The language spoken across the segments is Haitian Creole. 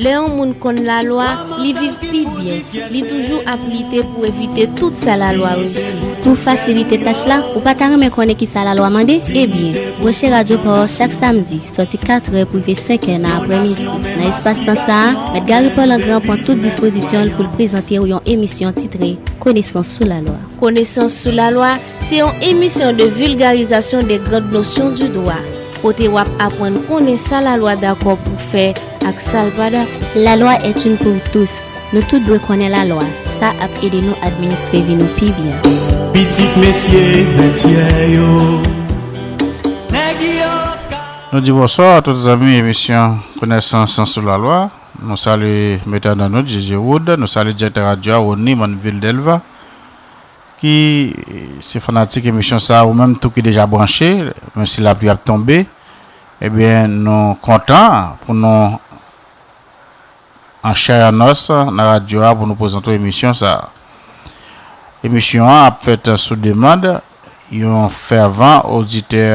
Lè yon moun konn lalwa, li viv pi byen, li toujou ap lite pou evite tout sa lalwa rejte. Pou fasilite tach la, ou pa ta renmen konnen kisa lalwa mande? Ebyen, branche Radyo pa w chak samdi, sòti katrè pou rive senkè nan aprèmidi. Nan espas tan sa a, Mèt Gary Paul Angrand pran tout dispozisyon l pou l prezante w yon emisyon titre Konesans sou lalwa. Konesans sou lalwa, Se yon emisyon de vulgarisation des grandes notions du droit, kote wap apwann konnen sa la lwa dakò pou fè ak sal pa dakò. La loi est une pour tous, nou tout dwe konnen la lwa, sa ap ede nou administre vi nou pi byen. Pitit mesye Bètyè yo, nèg yo ka. Nou di bonswa a tout zanmi emisyon Konesans sou la lwa. Nou salye Mèt Ananudd, JJ Wood, nou salye direktè radyo a Rony Manville Delva. Ki se fanatik emisyon sa ou menm tou ki deja branche menm si lapli ap tonbe ebyen nou kontan pou nou an chè an nòs nan radyo a pou nou prezante w emisyon sa emisyon an ap fèt sou demand yon fèvan oditè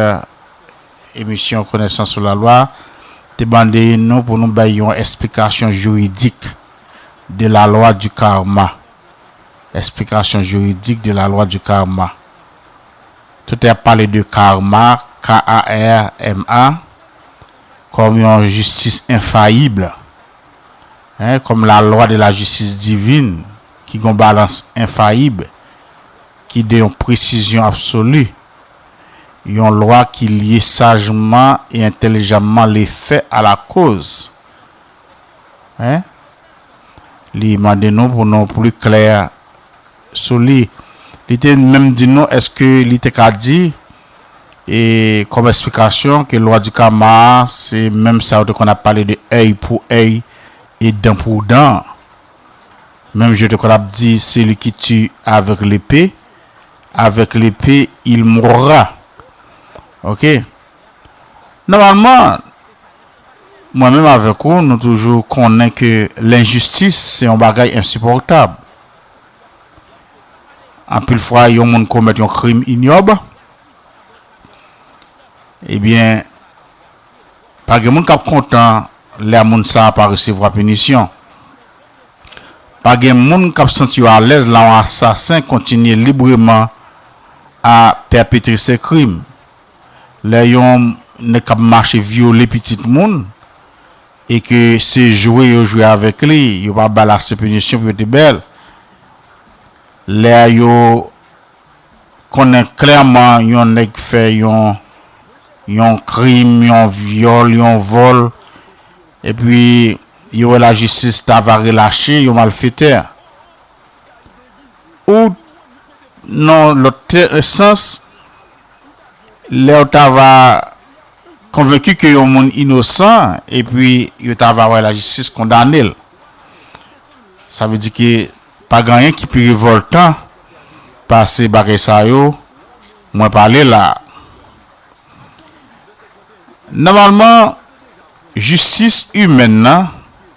emisyon konesans sou lalwa te mande nou pou nou bay yon esplikasyon jiridik de la lwa di karma. Explication juridique de la loi du karma Tout ap pale de karma, K-A-R-M-A, kòm yon jistis enfayib, kòm la lwa de la jistis divin ki gen yon balans enfayib, ki de yon presizyon absoli, yon lwa ki lye sajman e entelijamman lefè a lakoz, Hein? Li mande nou pou nou plus clair sou li. Li te menm di nou eske li te ka di e kòm esplikasyon ke lwa di kama a se menm sa yo te konn ap pale de èy pou èy e dan pou dan an. Menm jan yo te konn ap di celui qui tue avec l'épée, avec l'épée il mourra. Ok. Nòmalman, mwen menm avèk ou, nou toujou konnen ke lenjistis se yon bagay ensipòtab. Anpil fwa yon moun komèt yon krim inyòb, ebyen, pa gen moun k ap kontan lè moun sa a pa resevwa pinisyon. Pa gen moun k ap santi yo alèz lè yon asasen kontinye libreman a pèpetre se krim. lè yon nèg kap mache vyole pitit moun e ke se jwe yo jwe avèk li yo pa bal ase pinisyon pou yo te bèl lè yo konnen klèman yon nèg fè yon yon krim yon vyòl yon vòl epi yo wè la jistis ta va relache yon malfetè ou nan lòt sans. lèw ta va konvenki ke yon moun inosan epi yo ta va wè lajistis kondanel sa vle di ke pa gen anyen ki pi revòltan pase bagay sa yo mwen pale la a. Nòmalman jistis imèn nan.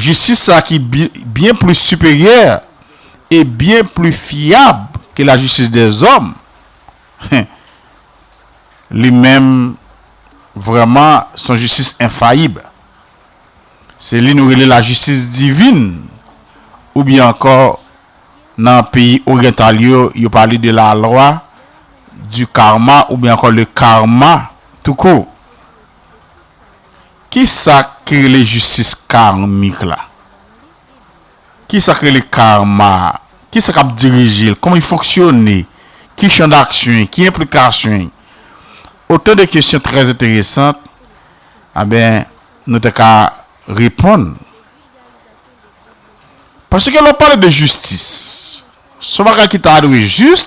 Jistis sa ki byen plis siperyè e byen pli fyab ke lajistis dèzòm, hen, li menm vrèman son jistis enfayib. Se li nou rele lajistis divin oubyen ankò nan peyi oryantal yo, yo pale de la lwa di karma oubyen ankò le karma tou kou. Kisa ki rele jistis karmik la? Kisa ki rele karma a? Kisa k ap dirije l? Kòman li fonksyone? Ki chan daksyon li? Ki enplikasyon li? Otan de kesyon trè enteresan anben nou te ka reponn. Paske lè w pale de jistis, s on bagay ki ta dwe jis,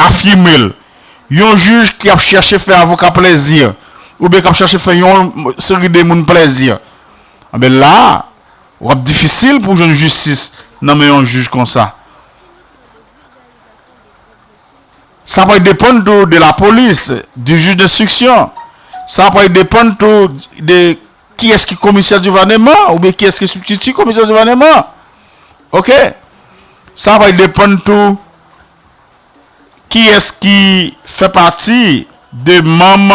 Afime l. Yon jij ki ap chèche fè avoka plèzi, oubyen k ap chèche fè yon seri de moun plèzi, anben la a, w ap difisil pou w jwenn jistis nan men yon jij konsa. Sa pral depann tou de lapolis, di jij denstriksyon. Sa pral depann tou de kiyès ki komisè divaneman, oubyen kiyès ki sibtiti komisè divaneman. Ok. Sa pral depann tou Kiyès ki fè pati de manm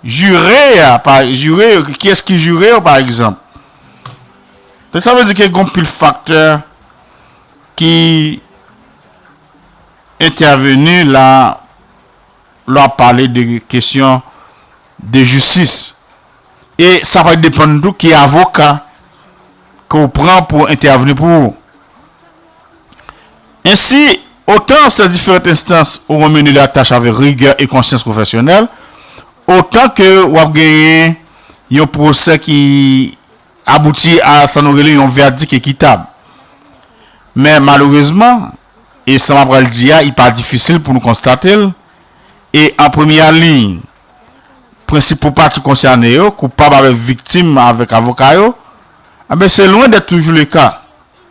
jire a, jire yo, kiyès ki jire yo pa egzanp. Donk sa vle di ke gon pil faktè ki entèveni la lè w ap pale de kesyon de jistis. E sa pral depann tou ki avoka ke w pran pou entèvni pou ou. Ensi, otan sè diferant enstans ou wè meni la tach avèk rigè e konsyans pwofèsyonèl, otan ke w ap genyen yon pwosè ki abouti a sa nou rele yon vèdik ekitab. Men malerezman, e sa m ap pral di a i pa difisil pou nou konstate l, e an premya liy, prensipal pati konsène yo, koupab avèk viktim avèk avoka yo, anben se lwen dèt toujou le ka.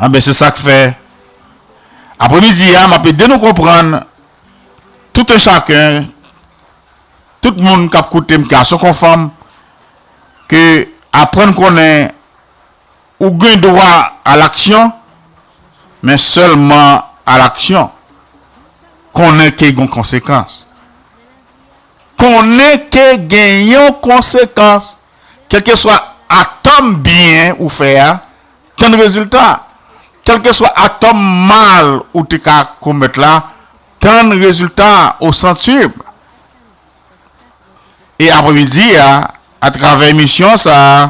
Anben se sak fè apre midi a map ede nou konprann tout un chacun tout moun kap koutem gason kon fanm ke aprann konnen ou gen dwa a l'action men sèlman a l'action konnen ke gon konsekans konnen ke gen yon konsekans. Kèlkeswa atòm byen ou fè a, tann rezilta. Kèlkeswa atòm mal ou te ka komèt la, tann rezilta ou santsib. E apremidi a, atravè emisyon sa a,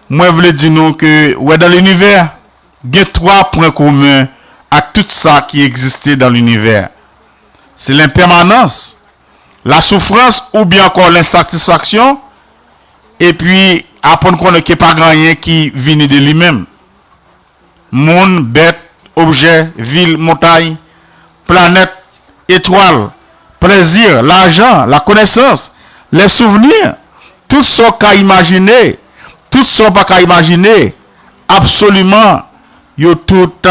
mwen vle di nou ke wè dan linivè gen twa pwen komen ak tout sa ki egziste dan linivè. Se lenpèmanans. lasoufrans oubyen ankò lensatisfaksyon epi aprann konnen ke pa gen anyen ki vini de li menm. Moun, bèt, objè, vil, montay, planèt, etwal, plèzi, lajan, lakonesans, lè souvni, tout sa w ka imajine, tout sa w pa ka imajine, absoliman yo tout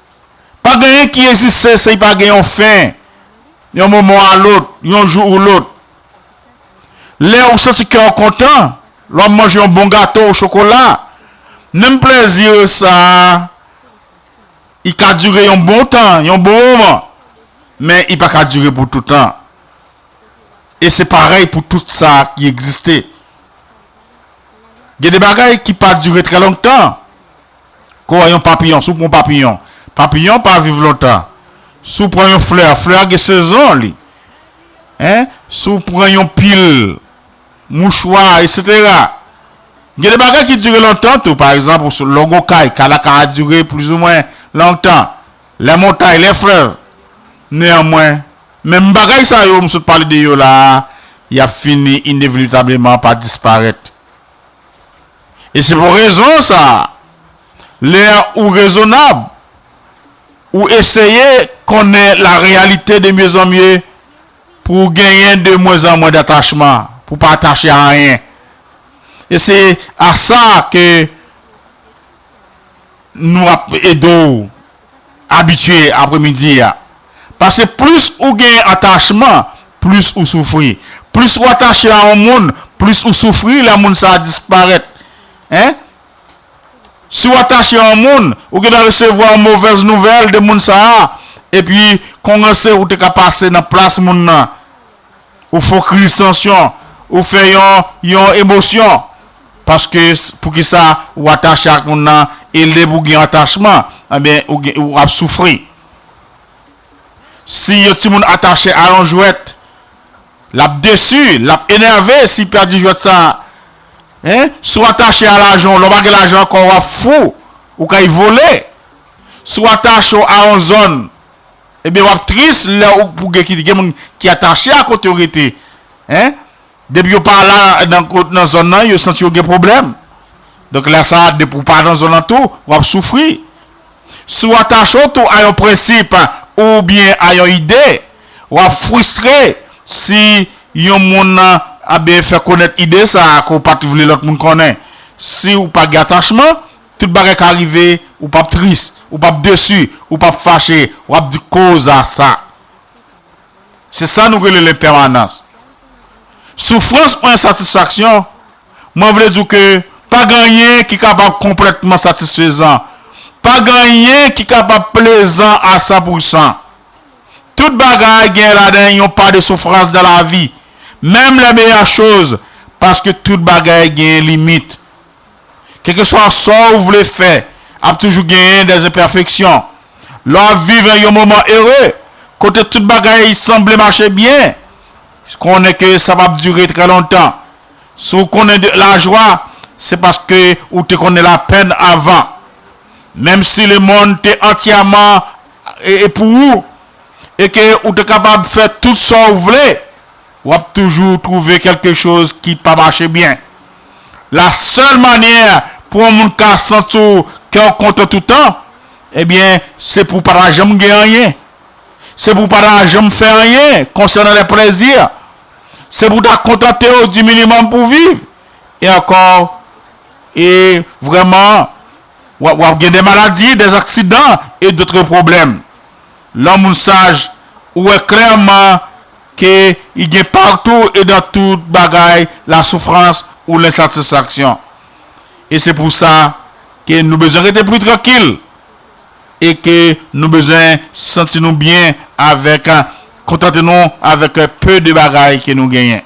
Pa gen anyen ki egziste si pa gen yon fen, yon moman a lôt, yon jou ou lôt. Lè ou santi kè ou kontan, lè ou manje yon bon gato ou chokola, menm plèzi yo sa a, i ka dire yon bon tan, yon bon moman, men i pa ka dire pou toutan. E se parèy pou tout sa ki egziste. Gen de bagay ki pa dire trè longtan. Kou an yon papiyon, si w pran yon papiyon, papiyon pa viv lontan. Si w pran yon flè, flè a gen sezon li. Hein, si w pran yon pil mouchwa eksetera. Gen de bagay ki dire lontan tou, pa egzanp lè w gen yon kay, kay la ka dire plizoumwen lontan, lè montay, lè flèv. Neanmwen, menm bagay sa yo m sot pale de yo la a, y ap fini inevitableman pa disparèt. E se pou rezon sa a, lè ou rezonab, ou eseye konnen la reyalite de mye zan mye pou ou genyen de mwen zan mwen datachman, pou ou pa atache a anyen. E se a sa ke nou ap ede ou. abitye apremidi a. Paske plis ou gen atachman, plis ou soufri. Plis ou atache a yon moun, plis ou soufri lè moun sa a disparèt. Hein? Si ou atache a yon moun, ou gen dwa resevwa yon movèz nouvèl de moun sa a, epi kon ranse ou te ka pase nan plas moun nan. Ou fokris tansyon, ou fè yon yon emosyon. Paske poukisa ou atache ak moun nan e lè pou gen atachman ebyen ou ap soufri. Si yon timoun atache a yon jwèt, l ap desi, l ap enève si pèdi jwèt sa. Si w atache a lajan w, lè w pa gen lajan ankò w ap fou, ou kay vole. Si w atache w a yon zòn. Ebyen wap tris lè ou pou gen ki gen moun ki atache a kote ou rete hein depi yo pa la nan kot nan zòn nan yo santi yo gen pwoblèm donk lè sa a depi ou pa nan zòn nan tou wap soufri si w atache w tou a yon prensip oubyen a yon ide wap fristre si yon moun a byen fè konèt ide sa a ke w pat vle lòt moun konnen si ou pa gen atachman. Tout bagay ka rive, ou pap tris, ou pap desu, ou pap fache, wap di koza sa. Se sa nou rele lenpèmanans. Soufrans ou ensatisfaksyon, mwen vle di w ke pa gen anyen ki kapab konplètman satisfezan, pa gen anyen ki kapab plezan a san pousan. Tout bagay gen ladan yon pa de soufrans nan lavi, menm lè meyè choz, paske tout bagay gen limit, Kèlkeswa sa ou vle fè, ap toujou genyen dè enpèfeksyon. Lè w ap viv yon moman ere, kote tout bagay sanble mache byen, konnen ke sa p ap dire trè lontan. Si w konnen de lajwa, se paske ou te konnen lapenn avan. Menm si lemonn te antyèman pou ou e ke ou te kapab fè tout sa ou vle, w ap toujou twouve kèlke choz ki pa mache byen. La sèl manyè pou yon moun ka santi w kè w kontan toutan, ebyen se pou w pa ta janm gen anyen, se pou w pa ta janm fè anyen konsènan lè plèzi, se pou w ta kontante w di minimòm pou w viv, e ankò e vrèman w ap gen de maladi, de aksidan e dotre pwoblèm. Lè yon moun saj, ou wè klèman Ke y gen partou e dan tout bagay la soufrans ou lensatisfaksyon. E se pou sa ke nou bezwen rete pri trankil e ke nou bezwen santi nou byen avèk kontante nou avèk peu de bagay ke nou genyen.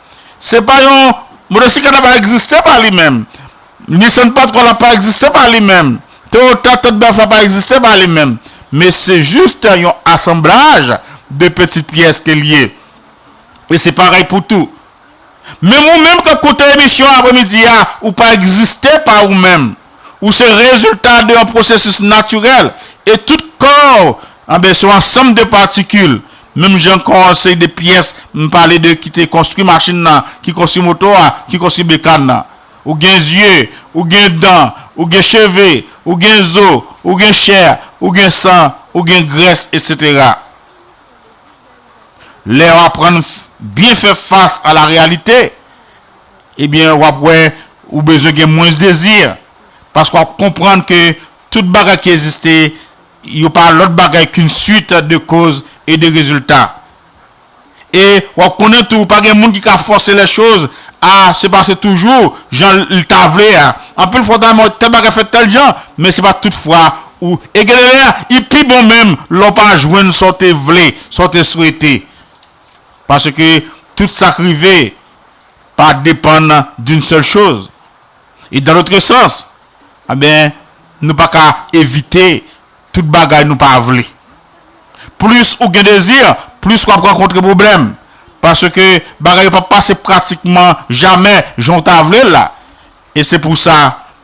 Se pa yon motosiklet la pa egziste pa li menm. Nissan Patrol la pa egziste pa li menm. Toyota Thunderbird la pa egziste pa li menm. Men se juste yon asanblaj de petit pyès ke l ye. E se parèy pou tou. Menm ou menm k ap koute emisyon apremidi a, ou pa egziste pa ou menm. Ou se rezilta de yon pwosesis natirèl e tout kò ou anben se yon ansanm de patikil menm jan kò an se de pyès m pale de ki te konstwi machin nan, ki konstwi moto a, ki konstwi bekàn nan. Ou gen zye, ou gen dan, ou gen cheve, ou gen zo, ou gen chè, ou gen san, ou gen grès, etsetera. Lè ou aprann byen fè fas a la reyalite, ebyen w ap wè ou bezwen gen mwens dezi, paske w ap konprann ke tout bagay ki egziste yo pa lòt bagay k yn swit de koz e de rezilta. E w ap konnen tou pa gen moun ki ka fòse lè choz a se pase toujou jan l ta vle a. Anpil fwa w ta renmen wè tèl bagay fèt tèl jan, men se pa tout fwa ou e gen de lè i pi bon menm lè w pa jwenn sa w te vle, sa w te swete. Paske tout sak rive pa depann d'une seule chose. Et dans l'autre sens, anben nou pa ka evite tout bagay nou pa vle. Plis ou gen dezi, plis wap rankontre pwoblèm. Paske bagay yo pap pase pratikman jamè jan ou ta vle l la. E se pou sa,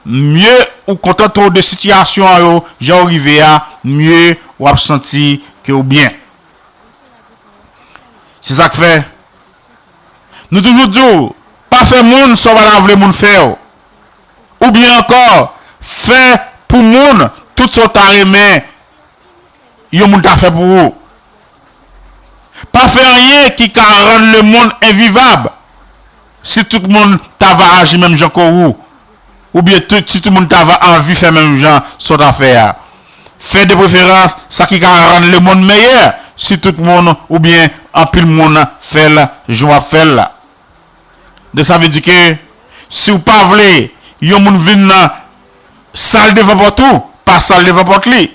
mye ou kontante w de sitiyasyon an yo jan yo rive a, mye wap santi ke ou byen. Se sa k fè, nou toujou di w, pa fè moun sa w pa ta vle moun fè w. Oubyen ankò, fè pou moun tout sa w ta renmen yon moun ta fè pou ou. Pa fè anyen ki ka rann lemonn envivab. Si tout moun ta va aji menm jan ke ou, oubyen si tout moun ta va anvi fè menm jan sa w ta fè a. Fè de preferans sa ki ka rann lemonn meyè si tout moun oubyen anpil moun fè l jan w ap fè l la. Donk sa vle di ke si w pa vle yon moun vin nan sal devan pòt ou, pa sal devan pòt li.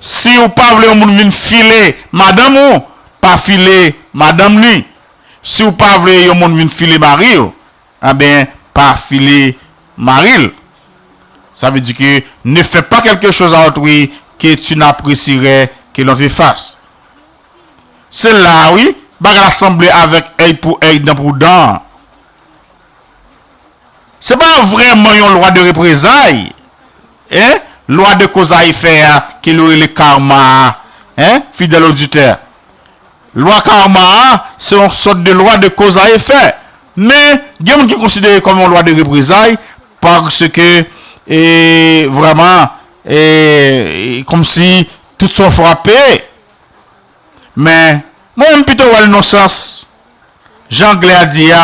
Si w pa vle yon moun vin file madanm ou, pa file madanm li. Siw pa vle yon moun vin file mariw enben pa file maril sa vle di ke ne fè pa kelke choz a otrui ke tu n'apresirè ke lon te fas se la a wi bagay la sanble avèk èy pou èy dan pou dan an se pa vrèman yon lwa de reprezay e lwa de koz a efè a ke yo rele karma a e fidèl oditè. Lwa Karma a se yon sòt de lwa de koz a efè, men gen moun ki konsidere kòm yon lwa de reprezay paske e vrèman e kòmsi tout sa w fè w ap peye. Men mwen menm m pito wè l non sans, jan anglè a di a,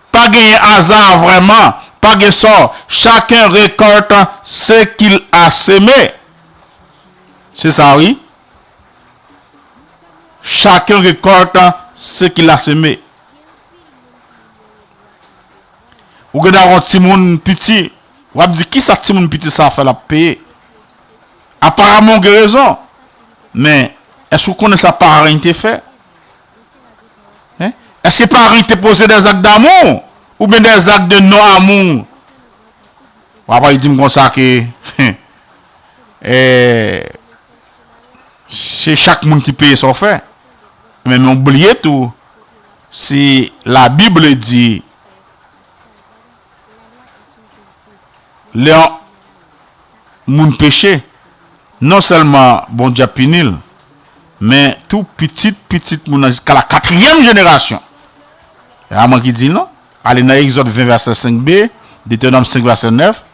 Pa genyen aza vrèman, pa gen sò, chacun récolte ce qu'il a semé. Se sa wi. Chacun récolte ce qu'il a semé. Ou gen dwa wè yon timoun piti, w ap di kisa timoun piti sa fè l ap peye. Aparaman ou gen rezon, men èske ou konnen sa paran li te fè? Èske Paris te poze des actes d'amour ou byen des actes de non amour? Ou pa pral di m konsa ke se chak moun ki peye sa w fè. Men ou bliye tou si la bible di. Lè yon moun peche, non sèlman Bondye ap pini l, men tou pitit pitit moun nan jiska lakatriyèm jenerasyon. E pa mwen ki di l non. Ale nan Egzòd 20 vèsè 5 b, Detèwonòm 5 vèsè 9,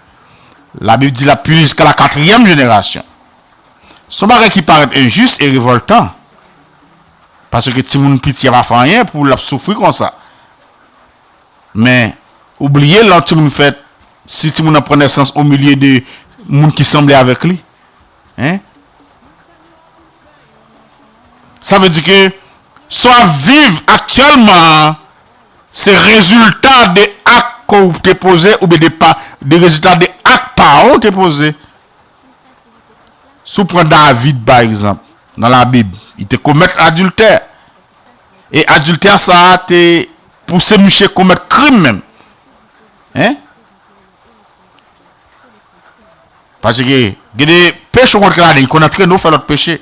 Labib di l ap pini jiska lakatriyèm jenerasyon. Se yon bagay ki parèt enjis e revòltan, paske timoun piti a pa fè anyen pou l ap soufri konsa. Men, ou bliye lè yon timoun fèt, si timoun nan pran nesans omilye de moun ki sanble avèk li, hein, sa vle di ke sa w ap viv aktyèlman an, se rezilta de ak ke w te poze oubyen de pa, de rezilta de ak paran w te poze. Si w pran David pa egzanp, nan labib, li te komèt adiltè. e adiltè sa a te pouse miche komèt krim menm. Hein? Paske gen de peche ou konn fè ladan, li konn antrene ou fè lòt peche.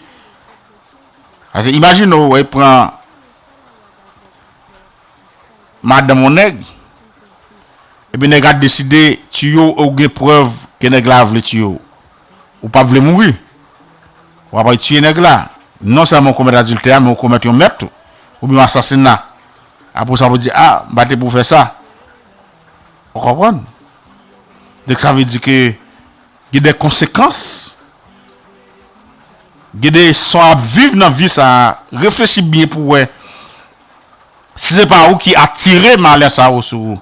Paske imajine ou wè pran madanm yon nèg, epi nèg la deside tiye ou e ou gen prèv ke nèg la vle tiye ou. Ou pap vle mouri. Ou ap al tiye nèg la. Non sèlman ou komèt adiltè a men ou komèt yon mèt tou. Oubyen yon asasina. Apre sa pou di a, m pa te pou fè sa. Ou konprann? Donk sa vle di ke gen de konsekans. Gen de sa w ap viv nan vi sa a. Reflechi byen pou wè si se pa ou ki atire malè sa yo sou ou.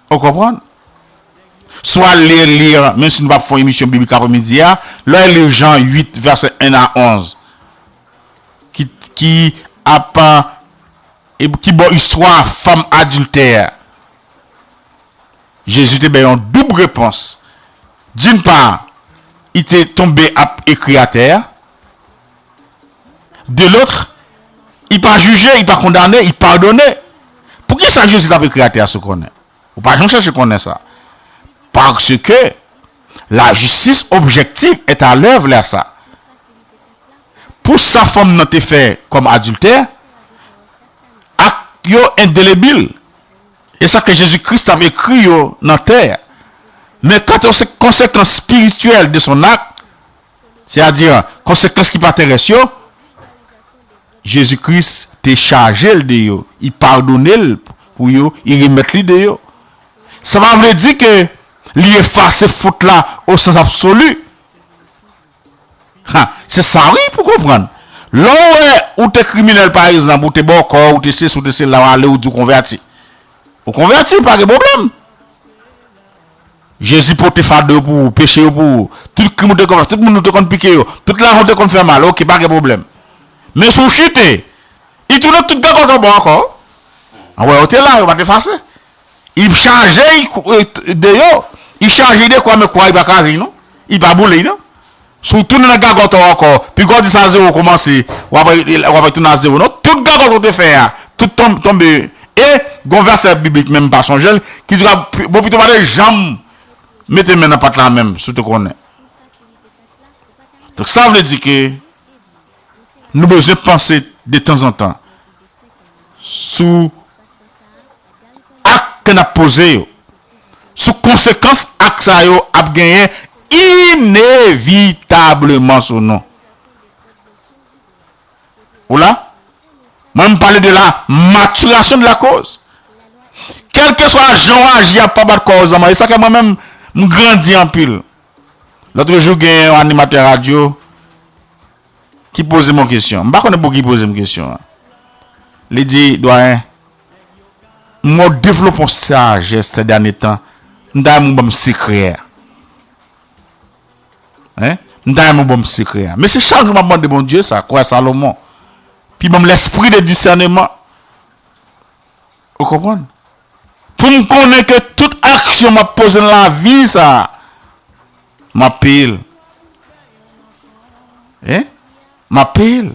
Ou konprann? Swa lè li an, menm si nou pap fè yon emisyon biblik apremidi a, lè w li Jan 8 vèsè 1 a 11 ki ki ap ki ba w istwa fanm adiltè a, Jezi te bay yon doub repons. D'une part, li te tonbe ap ekri atè a. de lotr, i pa jije, i pa kondane, i padone. Poukisa Jezi t ap ekri atè a sou konnen? Ou pa janm chèche konnen sa. Paske lajistis objektif èt alèv lè sa. Pou sa fanm nan te fè kòm adiltè, ak yo endelebil. E sa ke Jezi Kris t ap ekri yo nan tè a. Men kant o se konsekans spirityèl de son ak, se a di konsekans ki pa terès yo, Jezi Kris te chaje l de yo, I padone l pou yo, I remèt li de yo. Sa pa vle di ke Li efase fot la o sans absoli. Ha, se sa wi pou konprann. Lè w wè ou te kriminèl pa egzanp, ou te bòkò, ou te sesi, ou te sela, w ale ou di w konvèti. Ou konvèti, pa gen pwoblèm. Jezi pote fado yo pou ou, peche yo pou ou, tout krim ou te konn fè, tout moun ou te konn pike yo, tout lajan ou te konn fè mal, ok pa gen pwoblèm. Men si w chute, I tounen tout gagòt yon bò ankò. An wè yo te la, yo pa t efase. I p chaje I de yo, I chaje I de kwa men kwa I pa kraze I non, I pa boule I non. Si w tounen nan gagòt ou ankò, pi gò w di sa zewo koumanse, w ap retounen a zewo. Non, tout gagòt ou te fè a, tout tonbe. E, gen yon vèsè biblik menm m pa sonje l, ki di konsa, bon pito w pa te janm mete men nan pat la menm, si w te konnen. Donk, sa vle di ke nou bezwen panse detanzantan sou. ak ke n ap poze yo sou konsekans ak sa yo ap genyen inevitableman sou nou. Ou la? Mwen m pale de la maturation de la cause. Kèlkeswa jan w aji a pa bat kò w zanman. E sa k fè mwen menm m grandi anpil. Lotrejou genyen yon animatè radyo ki poze m yon kesyon. M pa konnen pou ki poze m kesyon an. Li di, Dwayen, Mwen devlope yon sajès sè dènye tan, m ta renmen ou banm sekrè a. Hein? M ta renmen ou banm sekrè a. Mesi chak jou map mande Bondye sa, kwè Salomon. Pi banm lespri de disèneman. Ou konprann? Pou m konnen ke tout aksyon map poze nan lavi sa, map peye l. Hein? m ap peye l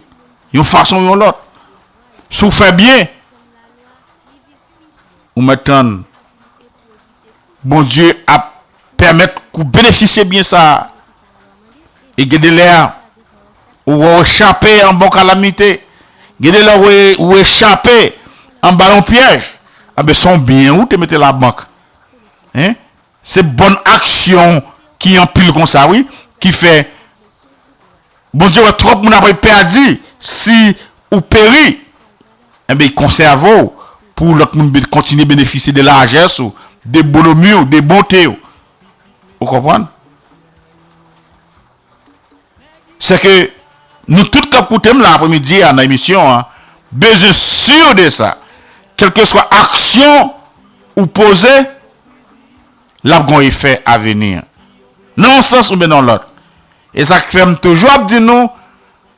yon fason ou yon lòt. Si w fè byen, ou mèt tann Bondye ap pèmèt ke w benefisye byen sa a. E gen de lè ou wè w echape an ba yon kalamite, gen de lè ou echape an ba yon pyèj, anben se yon byen ou te mete labank. Se bon aksyon ki anpil konsa wi ki fè Bondye wè twòp moun apre pèdi si ou peri enben i konsève w pou lòt moun kontinye benefisye de lajès ou de bonòmi w de bonte w ou konprann? Se ke nou tout k ap koute m la apremidi a nan emisyon an bezwen si de sa. Kèlkeswa aksyon ou poze, l ap gen yon efè aveni. Nan yon sans oubyen nan yon lòt. E sa k fè m toujou ap di nou.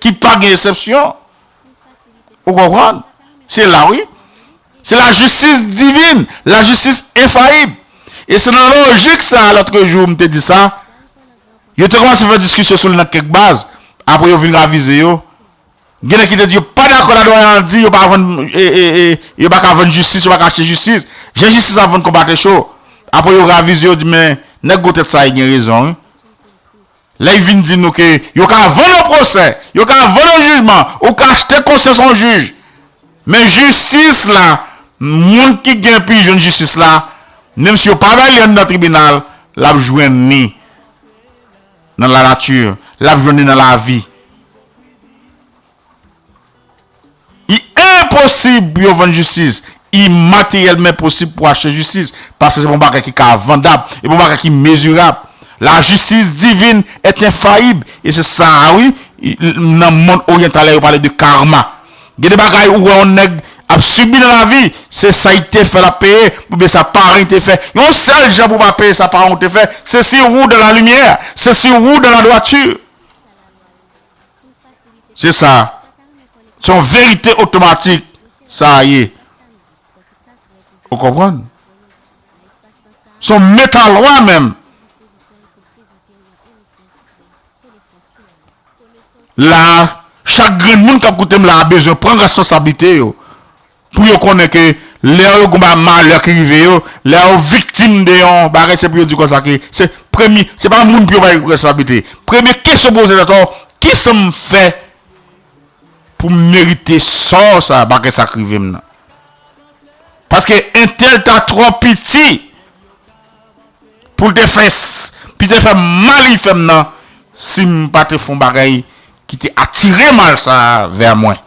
ki pa gen esepsyon ou konprann se la wi se la jistis divin la jistis enfayib e se nan lojik sa lotrejou m te di sa yo te kòmanse fè diskisyon sou li nan kèk baz apre yo vin ravize yo gen nèg ki te di yo pa dakò la doyen an di yo pa vann yo pa ka vann jistis yo pa ka achte jistis jan jistis ap vann konpatrechou apre yo ravize yo di men nèg gwo tèt sa e gen rezon wi. Lè y vin di nou ke yo ka vann yon pwosè, yo ka vann yon jijman, ou ka achte konsyans yon jij. Men jistis la, moun ki gen pu jwenn jistis la, menm si yo pa bay li anndan tribinal, l ap jwenn li nan la nature, l ap jwenn li nan lavi. Li enposib pou yo vann jistis. Li materyèlman enposib pou achte jistis, paske se pa yon bagay ki ka vandab, e pa yon bagay ki mezirab. Lajistis divin est infaillible, e se sa a wi, nan mond oryantal la yo pale de karma. Gen de bagay ou wè yon nèg ap sibi nan lavi, se sa li te fè lap peye, oubyen sa paran li te fè. Yon sèl jan pou w pa peye sa paran w te fè, se si ou dans la lumière, se si ou dans la droiture. Se sa. Se yon verite otomatik sa a ye. Ou konprann? Se yon metalwa menm. La a, chak grenn moun k ap koute m la a bezwen pran responsablite yo. Pou yo konnen ke lè yo gon ba malè ki rive yo, lè yo viktim de yon bagay se pou yo di konsa ke se premye, se pa moun pou yo bay responsablite. Premye kesyon pou poze tèt ou, ki sa m fè pou m merite sò sa a, bagay sa k rive m nan? Paske entèl ta twò piti pou l te fè, pi te fè m mal li fè m nan si m pa te fon bagay ki te atire mal sa a vè mwen.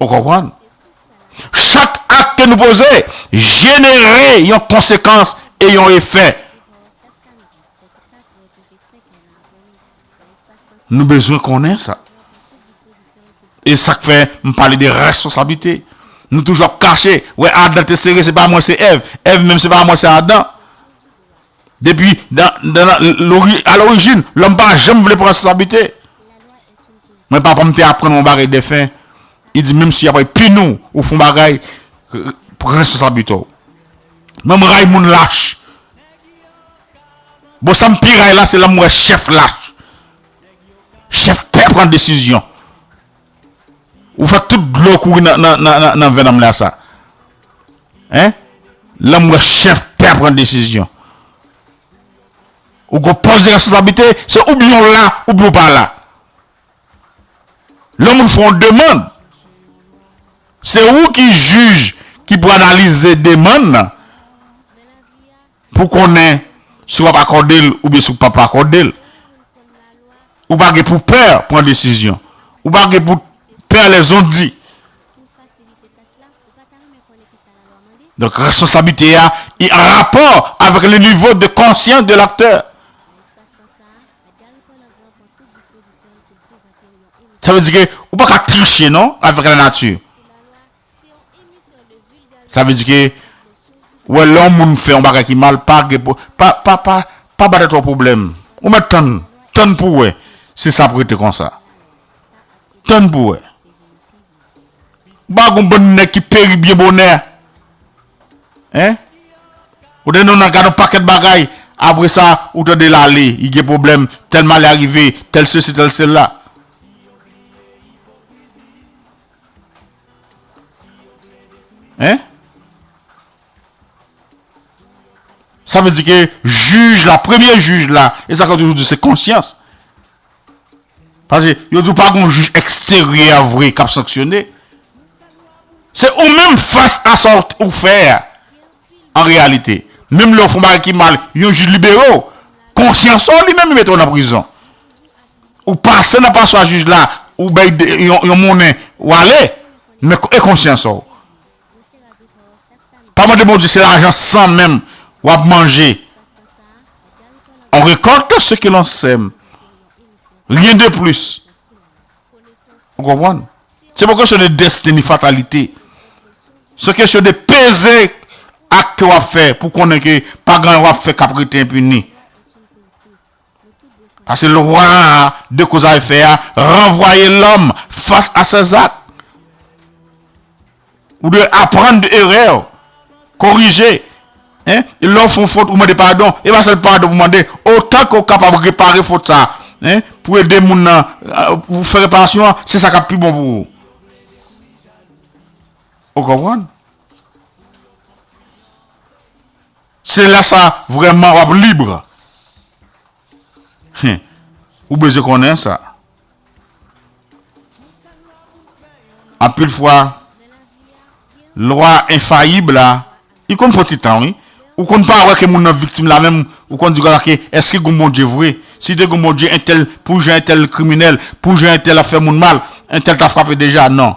Ou konprann? Chak ak ke nou poze jenere yon konsekans e yon efè. Nou bezwen konnen sa. E sak fè m pale de responsablite. Nou toujou ap kache. Wè Adan te sere se pa mwen se Èv. Èv menm se pa mwen se Adan. Depi a lorijin, lòm pa janm vle pran responsabilite. Mwen papa m te aprann mwen bagay defen, li di menm si y ap ray pini w, ou fè yon bagay, pran responsabilite w. Mwen m ray moun lach. Bon sa m pi ray la se lè m wè chèf lach. Chèf pè pran desizyon. Ou fè tout dlo kouri nan venn anmla sa hein lèm wè chèf pè a pran desizyon ou gon pòs de responsablite se oubyen ou la oubyen ou pa la lè moun fè yon demand se ou ki jij ki pou analize demand nan. Pou konnen si w ap akòde l oubyen si w pap akòde l. Ou pa gen pou pè pran desizyon. Ou pa gen pou pè lè zon di. Donk responsablite a e an rapò avèk le nivo de konsyans de l'aktè. Sa vle di ke ou pa ka triche non avèk lanati. Sa vle di ke ou wè lè yon moun fè yon bagay ki mal pa gen pou pa pa pa pa ba tèt ou pwoblèm ou mèt tann tann pou wè si sa ap rete konsa tann pou wè ou pa wè gon bann nèg ki peri byen bonè hein ou tande nan gad yon pakèt bagay apre sa ou tande lale li gen pwoblèm tèl malè a rive tèl sesi tèl sela. Hein? Sa vle di ke juj la, premye juj la, e sa ka toujou di se konsyans. Pase, yo di ou pa goun juj eksteryè a vre kap sanksyone. Se ou menm fas a sa ou fè a. an reyalite. Menm lè w fè yon bagay ki mal, yon jij libere w, konsyans ou li menm li mete w nan prizon. Ou pase nan paswa jij la, ou bay yon monnen, ou ale, men e konsyans ou? Pa mande Bondye se lajan san menm w ap manje. On recolte ce que l'on sème. Rien de plus. Ou konprann? Se pa kesyon de destin ni fatalite. Se kesyon de peze ak ke wap fè pou konnen ke pa gen anyen wap fè kap rete enpini. Pase lwa a de koz a efè a ranvwaye lòm fas a sè zak. Ou dwe aprann de erè w, korije. Lè w fè yon fot, ou mande padon. E pa sèl padon pou mande, otan ke w kapab repare fot sa, pou ede moun nan, pou fè reparasyon an, se sa k ap pi bon pou ou. Ou konprann? Se lè sa a vrèman w ap libre. Hum ou bezwen konnen sa. Anpil fwa lwa enfayib la li konn pran ti tan wi. Ou konn pa wè ke moun nan viktim la menm ou konn di gwa la ke eske gon Bondye vre? Si te gon Bondye entèl pou jan entèl kriminèl, pou jan entèl ap fè moun mal, entèl ta frape deja non.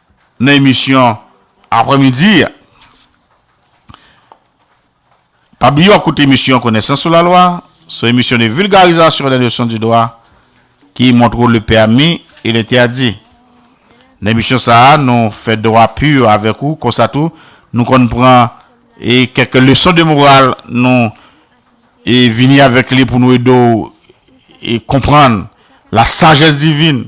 nan emisyon aprè midi a. Pa bliye w ap koute emisyon Konesans sou la lwa, son emisyon de vulgarisation des notions du droit ki montre w le permis et l'interdit. Nan emisyon sa a, nou fè dwa pur avèk ou, konsa tou, nou konn pran e kèk leson de moral nou e vini avèk li pou nou ede w e konprann la sagesse divine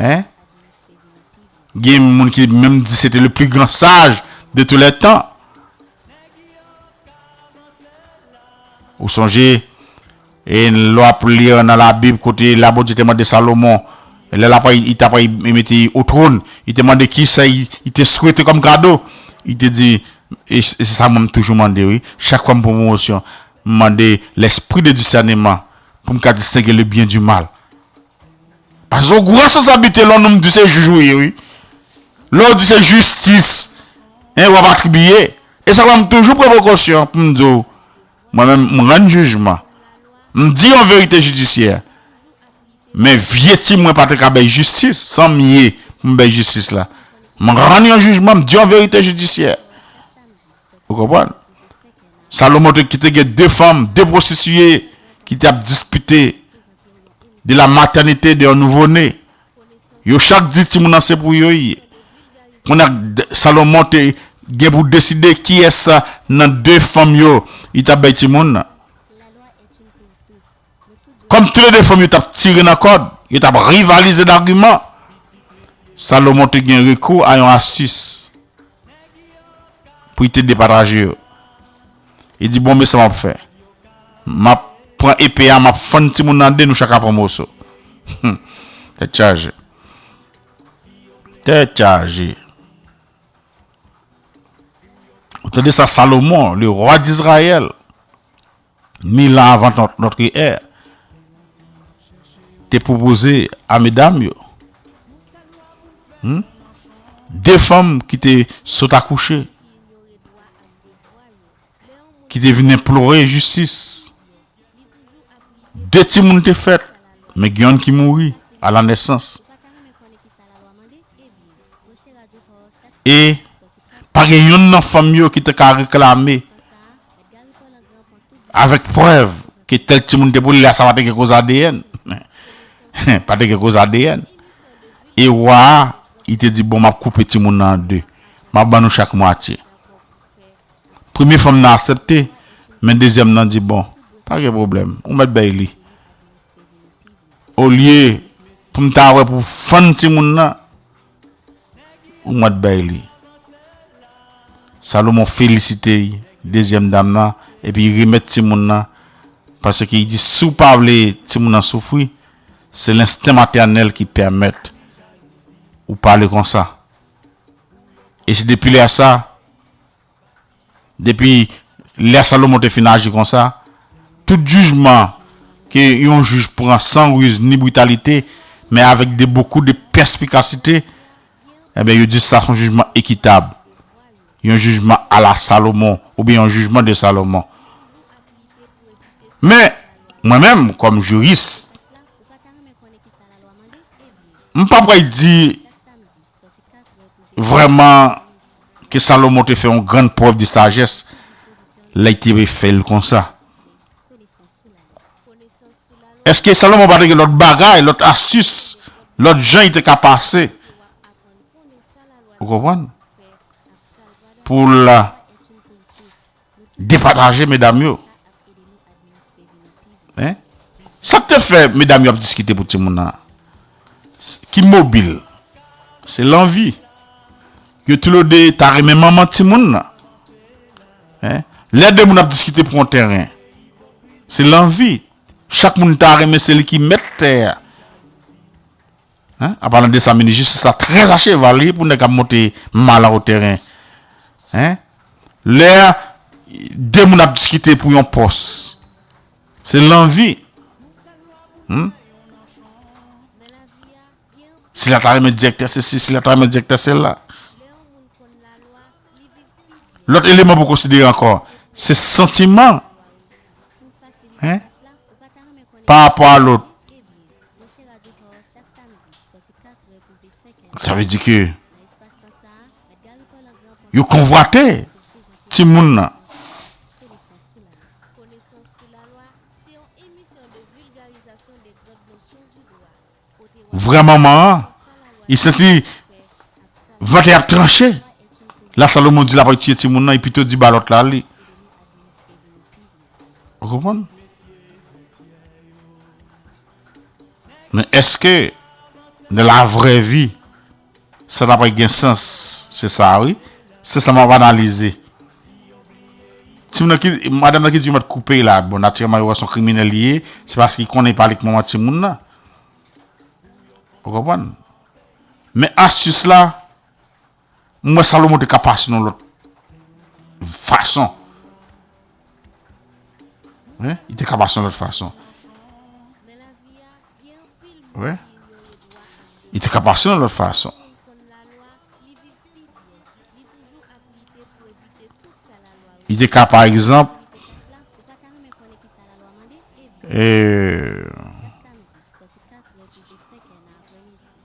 Hein? Gen moun ki menm di se te le plus grand sage de tous les temps. Ou sonje, e lò ap li nan la Bib kote la Bondye te mande Salomon, lè la pray, i ta pray mete i o trône, i te mande ki sa i te swete kòm kado, i te di, e se sa mwen m toujou mande wi, chak fwa m pran pwomosyon, m mande l'esprit de discernement pou m ka distenge le bien du mal. Paske w gwo responsablite lè w nonm di se jij ou ye wi. Lè w di se jistis w ap atribiye. E sa fè m toujou pran prekosyon pou m di w mwen menm m rann jijman. M di yon verite jidisyè. Men vye ti mwen pa te ka bay jistis san m ye pou m bay jistis la. M rann yon jijman, m di yon verite jidisyè. Ou konprann? Salomon ki te gen 2 fanm, 2 pwostitiye ki te ap dispite. de la matènite de yon nouvo ne yo chak di timoun nan se pou yo ye kounye a Salomon te gen pou deside kiyès nan 2 fanm yo li tap bay timoun nan kòm tou le 2 fanm yo tap tire nan kòd yo tap rivalize dagiman Salomon te gen rekou a yon astis pou li te depataje yo. Li di, Bon, men sa m ap fè. M ap pran epe a, m ap fann timoun nan an de, nou chak a pran moso. Hum! Tèt chaje. Tèt chaje. Ou tande sa Salomon, le roi d'Israël, mil an avan notre è, te pwopoze a medam yo? Hum! De fanm ki te sot akouche. ki te vin enplore jistis. De timoun te fèt, men gen youn ki mouri a la nesans. E, pa gen youn nan fanm yo ki te ka reklame avèk prèv ke tèl timoun te pou li, lè a sa pa te gen koze adn. Pa te gen koze adn. E wa a, li te di, bon, m ap koupe timoun nan an de. M ap ban nou chak mwatye. Premye fanm nan asepte, men dezyèm nan di bon, pa gen pwoblèm, ou mèt bèy li. Olye pou m ta wè pou fann timoun nan, ou mèt bèy li. Salomon felisite dezyèm dam nan epi li remèt timoun nan paske li di si w pa vle timoun nan soufri, se lensten matènèl ki pèmèt ou pale konsa. E se depi lè sa, depi lè Salomon te fin aji konsa, tout jijman ke yon jij pran san riz ni britalite, men avèk de bokou de pèspikasite, enben yo di sa son jijman ekitab, yon jijman ala Salomon, oubyen yon jijman de Salomon. Men, mwen menm, kòm jiris, m pa pral di Vrèman, ke Salomon te fè yon grann prèv de sajès lè l te refè l konsa! Èske Salomon pa te gen lòt bagay, lòt astis, lòt jan li te ka pase, ou konprann, pou l. Depataje medam yo hein sak te fè medam yo ap diskite pou timoun nan ki mobil se lanvi yo tulo 2 ta renmen manman timoun nan hein lè 2 moun ap diskite pou yon tèren se lanvi chak moun ta renmen se li ki mèt tè a. Hein an palan de sa minis jistis la très a cheval wi pou nèg kap monte mal a otèren hein lè de moun ap diskite pou yon pòs se lanvi humm sila ta renmen direktè sesi sila ta renmen direktè sela. Lòt eleman pou konsidere ankò, se santiman pa rapò a lòt. Sa vle di ke yo konvwate timoun nan. vra manman an, li santi vant li ap tranche. La Salomon di l ap tiye timoun nan, li pito di ba lòt la li. Ou konprann? Men èske nan la vrè vi, Sa ta pral gen sans. Se sa a wi. Se sa map analize. Timoun nan ki, madam nan ki di yo mèt koupe la. Bon natirèman yo wè son kriminèl li ye. Se paske li konnen li pale k manman timoun nan. Ou konprann? Men astis la, m wè Salomon te ka pase nan yon lòt fason. Wi, li te ka pase yon lòt fason. Wi, li te ka pase yon lòt fason. Li te ka, pa egzanp, eee...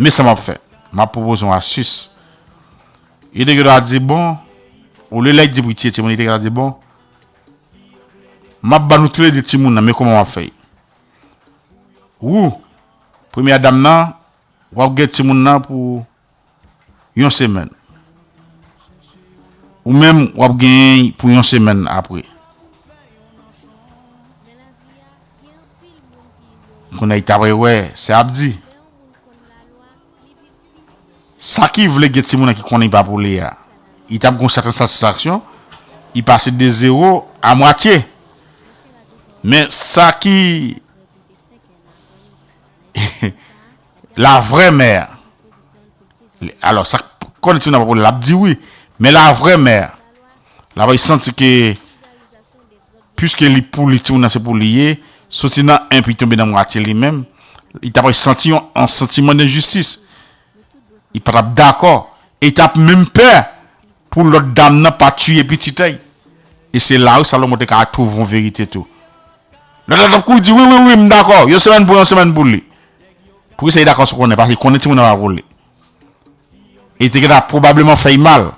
Men sa map fè, map pwopoze yon astis. Yo te gentan di bon, olye lèy di pou y tiye timoun, yo te gentan di bon, map ban nou toule de timoun nan, men kouman wap fè y. Wou, premyè dam nan, wap gen timoun nan pou yon semèn. Ou menm wap genyen'y pou yon semèn apre. Kon nèg ta vle wè sa yap di. Sa ki vle gen timoun an ki konnen pa pou li a. Li tap gon sèten satisfaksyon. Li pase de zewo a mwatye. Men sa ki. La vraie mère Alors sak konn ti moun nan pap wè lap di wi men la vraie mère la bay santi ke puiske li pou li ti moun nan se pou li ye soti nan 1 pi tonbe nan mwatye li menm li ta bay santi yon an santiman denjistis li pa tap dakò e li tap menm pè Pou lòt dam nan pa tiye pitit èy. E se la wi Salomon te ka twouve yon verite tou. Lòt la t ap kouri di, Wi, wi, wi, m dakò. Yon semèn pou yon semèn pou li. Poukisa li dakò sou konnen? Paske li konnen timoun nan pa pou li. E li te gentan pwobableman fè y mal.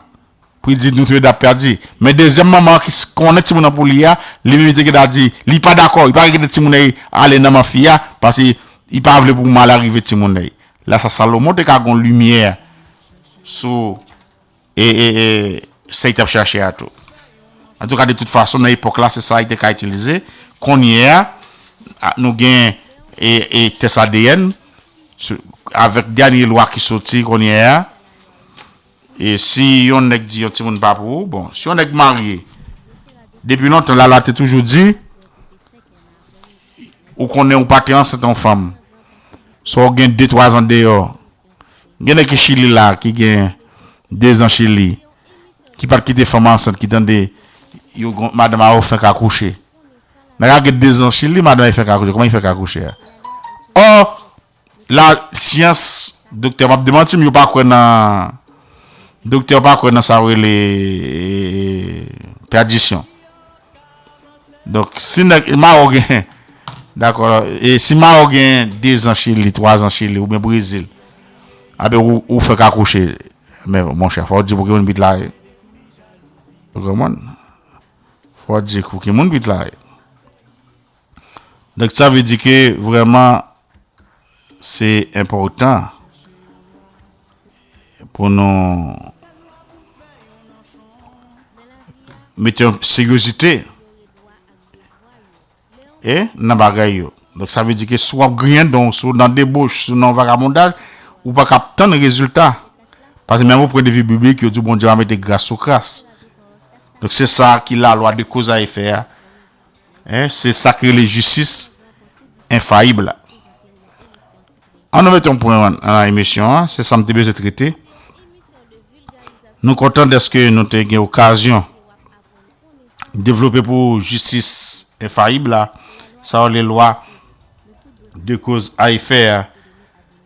Pou li di, Nou tou le de ap pèdi. Men dezyèm manman an ki konnen timoun nan pou li a, li menm li te gentan di, Li pa dakò. Li pa ka kite timoun èy ale nan man fi a, paske li pa vle pou malè rive timoun èy. La sa Salomon te ka gen yon limyè sou e sa li t ap chache a tou. Antouka de tout fason nan epòk la se sa li te ka itilize, konnye a nou gen tès adn avèk dènye lwa ki soti konnye a e si yon nèg di yon timoun pa pou ou, bon si yon nèg marye depi lontan la lwa te toujou di ou konnen ou pa te ansent yon fanm sò ou gen de twazan deyò Gen nèg ki chili la ki gen 2 zan chili ki pat kite fanm ansant ki tande yo gon madanm a ou fenk akouche nèg a gen 2 zan chili madan li fenk akouche kòman li fenk akouche a ò la syans doktè map demantim yo pa kwè nan doktè yo pa kwè nan sa yo rele pèdisyon. Donk si nèg Maroc gen dakò e si Maroc gen 2 zan chili 3 zan chili oubyen brezil apre ou ou fèk akouche men monchè fò ou di pou ki moun pitit la ye ou konprann fò ou di pou ki moun pitit la ye. Donk sa vle di ke vreman se enpotan pou nou mete yon seryozite e nan bagay yo. Donk sa vle di ke si w ap griyen dan w, si w nan debouch, si w nan vagabondaj, ou pa kab tann rezilta. Paske menm o pwen de vi biblik yo di w Bondye pa mete gras sou kras. Donk se sa ki lalwa de koz a efè a. Hein se sak rele jistis enfayib la. An nou mete yon pwen nan emisyon an, se sam te bezwen trete. Nou kontan deske nou te gen okazyon devlope pou ou jistis enfayib la, sa yo rele lwa de koz a efè a.